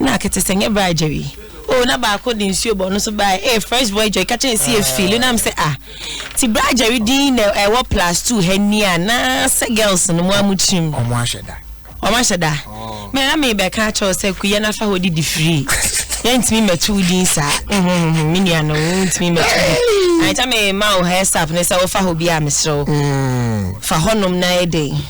na akete sɛ nyɛ baa jerry o na baako de nsuo bɔ ɔno nso baa ee eh, fresh boy jerry kakyɛ esi efi lu nam sɛ ah ti baa jerry din na ɛwɔ plus two ha ni a na sɛ girls no mu amu kyim. ɔmo ahyɛ da. ɔmo ahyɛ da oh. mɛ na mi bɛ ka kyɛw sɛ kuyɛ nafa hɔ di di free yɛntumi mmɛto wo din saa me nua no wontumi mmɛto din ankyɛ me ma wo hɛ sap ne sɛ wofa hɔ bi a meserɛ wo fa hɔnom na ɛdɛn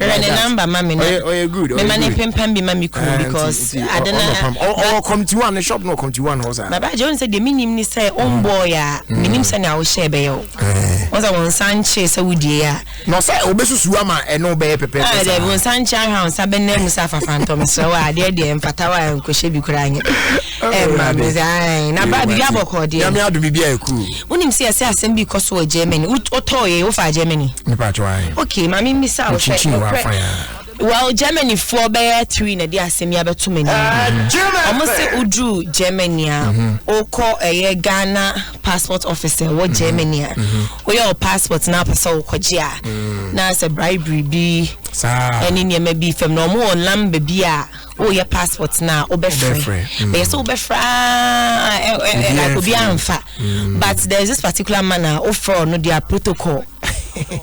Ɔyɛ ne number ma me na. Ɔyɛ ɔyɛ good ɔyɛ good. Mema ne mpempam bi ma me kunu because ade na. Ɔwɔ committee one ne shop na ɔwɔ committee one hɔ saa. Baba agye wɔn sɛ deɛ mi nim ni sɛ o mm. mbɔɔ yɛ a mi nim mm. sɛ nea ɔhyɛ bɛyɛ o. Wɔn sɛ wɔn nsa nkye sɛ wodie yɛ a. Na ɔsɛ obesusu ama ɛno bɛyɛ pɛpɛɛpɛ ah, saa. Ɛdɛ wɔn nsa nkye ahwɛ wɔn nsa bɛnna mu sɛ afafantɔm srɛ wɔ adeɛ deɛ mfata wɔ a nkɔhyɛ bi koraa nyɛ. ɛma me ae na bra biribi abɔkɔ deɛ nyame adom biribi ayɛ cool wonim sɛ ɛsɛ asɛm bi kɔ so wɔ germany wotɔɔ yɛ wofaa germany mepatɔ ae ok ma memmisa wo sɛ ɛkorɛ well germany foɔ bɛyɛ three na ɛde asɛm yi abɛto m'anim ah, mm-hmm. wɔn sɛ woduru germany a wokɔ mm-hmm. ɛyɛ eh, ghana passport officer wɔ mm-hmm. germany a woyɛ wɔ passport na apɛ sɛ wokɔgye a mm. na sɛ bribery bi ɛne nneɛma bi fam na wɔn wɔ lamba bi a woyɛ passport na wobɛfrɛ mm. bɛyɛ sɛ wobɛfrɛ ah, eh, eh, eh, obi amfa mm. but there is this particular man a wofrɛ no their protocol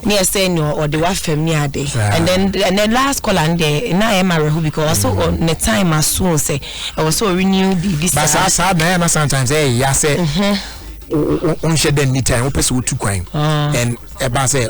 ne ɛsɛ ne ɔde wafam ne ade and then and then last call and there na ɛyɛ ma wɛho because ɔso mm. ne time aso sɛ ɛwɔ sɛ ɔrenew biribi saa saa saa na ɛyɛ ma sometimes ɛyɛ ya sɛ wonhyɛ dɛ nni time wopɛ sɛ wotu kwan ah. and ɛba sɛ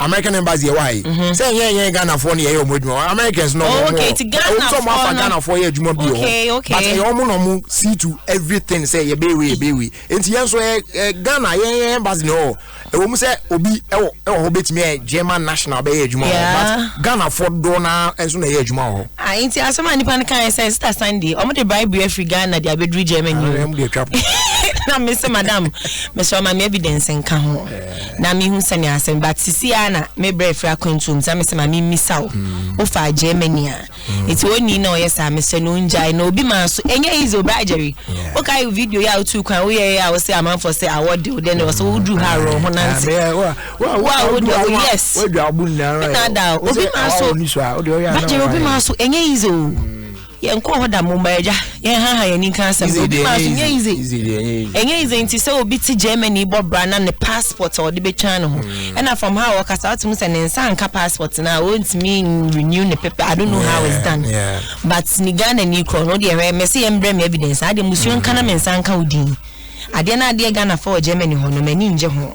American embassy yɛ wɔ ha yi mhm. sɛ nyɛ nyɛ Ghana foɔ no yɛ yɛ ɔmo adwuma Americans no ɔmo wɔ ɔmo sɛ ɔmo afa Ghana foɔ yɛ adwuma bi wɔ hɔ but ɛyɛ ɔmo na ɔmo see to everything sɛ yɛ bɛyɛ wei yɛ bɛyɛ wei nti yɛn nso yɛ ɛ Ghana yɛ yɛ embassy na ɔwɔ ɛwɔ mu sɛ obi ɛwɔ ɛwɔ hɔ betumi yɛ German national bɛyɛ adwuma wɔ hɔ but Ghana foɔ doɔ na nso na yɛ adwuma wɔ hɔ. Ah, nti asɛm a nipa no kan yɛ sɛ sita Sunday ɔmo de bribe afiri Ghana de abɛduru Germany. Ah, na mesɛ madam mesɛ ɔma me evidence nka ho. na mehu sɛnea asɛm but sisi ara na me brɛ firi akwantuo mu sɛ me sɛ ma me mmisa wo mm. wofa Germany a mm. eti oni na ɔyɛ saa mesɛ no ngyae na obi maa so ɛnyɛ easy o bra Jerry woka yi video yi a wotu kwan woyɛ yɛ a wosɛ amanfoɔ sɛ awɔ de wo dɛ na wɔsɛ woduru ha aworɔ ho nante wo a wode o yes ɛna ada obi maa so bra Jerry obi maa so ɛnyɛ easy o. yɛn kɔ hɔ da mo mmaa agya yɛn ha ha yɛn ni nka asɛm na obi maa so nyɛ yize ɛnyɛ yize nti sɛ obi ti germany bɔ bra na ne passport a ɔde bɛtwa ne ho hmm. ɛna from how ɔkasa wotum sɛ ne nsa nka passport no a ɔntumi renew ne pepe i don't know how it's done but ne ghana ni korɔ no deɛ hwɛ mɛsɛ yɛn brɛ me evidence adeɛ musuo nka na me nsa nka wo din adeɛ na adeɛ ghana fɔ wɔ germany hɔ no m'ani ngye ho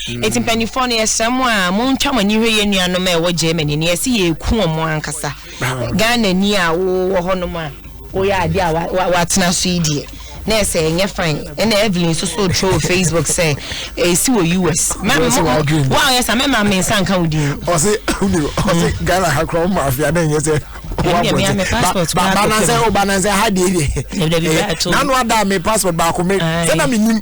Enti mpanimfoɔ no yɛsrɛ mo a montwa mo ani nhwɛ yɛn nuanom a ɛwɔ Germany no yɛse yɛku wɔn ankasa Ghana ni a wowɔ hɔnom a woyɛ adeɛ a watena so yi deɛ na ɛsɛ ɛnyɛ fine ɛna Evelyn nso so twerɛ wɔ Facebook sɛ ɛsi wɔ US woayɛ sa mɛma me nsa nka wo din ɔse hmm. Ghana ha korɔ ma afia na ɛnyɛ sɛ banansɛ o banansɛ ha deɛ deɛ nano ada me passport baako me sɛ na menim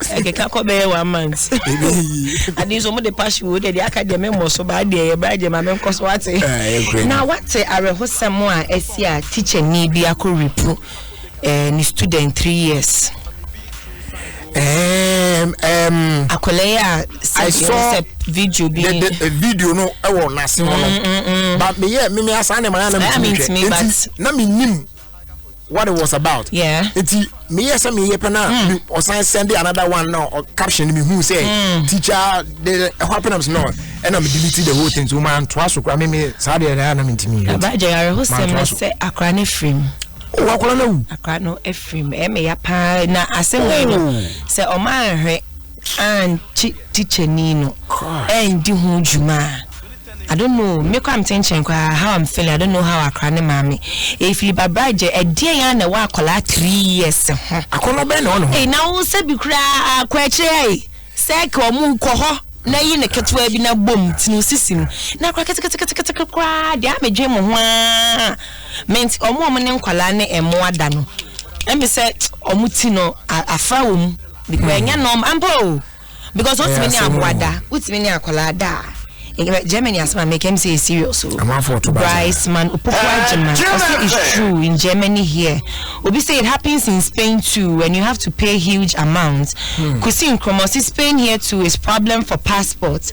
ɛkeka kɔ bɛyɛ one month ade nso ɔmo de passion wo deɛ deɛ aka deɛ memmɔ so baa deɛ yɛbra deɛ ma menkɔ so wate ah, na wate awerɛhosɛm a asi a teacher ni bi akɔ repu eh, ne student three years um, um, akwadaa yi a sɛ video bi the, the, uh, video no ɛwɔ n'ase hɔ no mm, mm, mm. ba meyɛ mimi asan ne ma ya na mi ti hwɛ eti na mi nim what it was about. Yeah. Eti me yes me ye pena mm. or sign send another one now or caption me who say mm. teacher the what happens no and I'm deleting the whole thing so man twice or me me sad and I am into me. About Jerry who said me say a cranny frame. Oh, I call no. A cranny no a frame. Eh me ya pa na aseme no oh. say o man he and teacher ni no. Eh ndi ho juma. I don't know me koraa me kyenkyen koraa how am feeling I don't know how akora ne maame efili ba bra gye ɛdeɛn ara na ɛwɔ akwadaa three years ho. Akɔnɔ bɛn na ɛwɔ ne ho. Ei na wo sɛ bi koraa kɔ akyire ai sɛ kɛ ɔmo kɔ hɔ na yi ne ketewa bi na bom ti no sisi mu na kora keteketekete koraa deɛ ame dwen mo ho aa ment ɔmo ɔmo ne nkwadaa ne ɛmo ada no ɛmi sɛ ɔmo ti no afra wɔ mu because ɛnyɛ nɔɔma ampa o. because o tìmí ní aboa da o tìmí ní akwadaa da germany asem a mekam sɛ yɛ serious o bryce man opokuwa gyima ɔsɛ is true in germany here obi sɛ it happens in spain too and you have to pay huge amounts hmm. kusi nkrɔma ɔsɛ spain here too is problem for passport.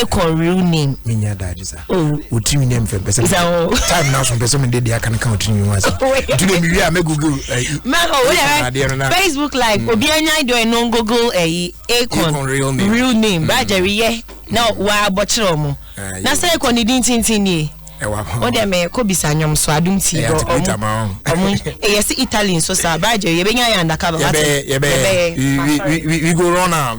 Akon real name. Menya daji sa. Oh. Utimi name fe pese. Sa o. Time na so pese me dey aka kan utimi wa sa. Tu dem wi a me google. Me o we Facebook live obi anya do e no google e Akon real name. Real name. Ba jeri ye. Na wa abɔkyerɛ ɔmo. Na sɛ ɛkɔ ne din tintin nie. o de me kɔ bisa nyom so adum ti do ɔmo. Ɔmo ɛyɛ si Italy nso sa. Ba jeri yɛbɛnya yɛ andaka ba. Yɛbɛyɛ. We go run now.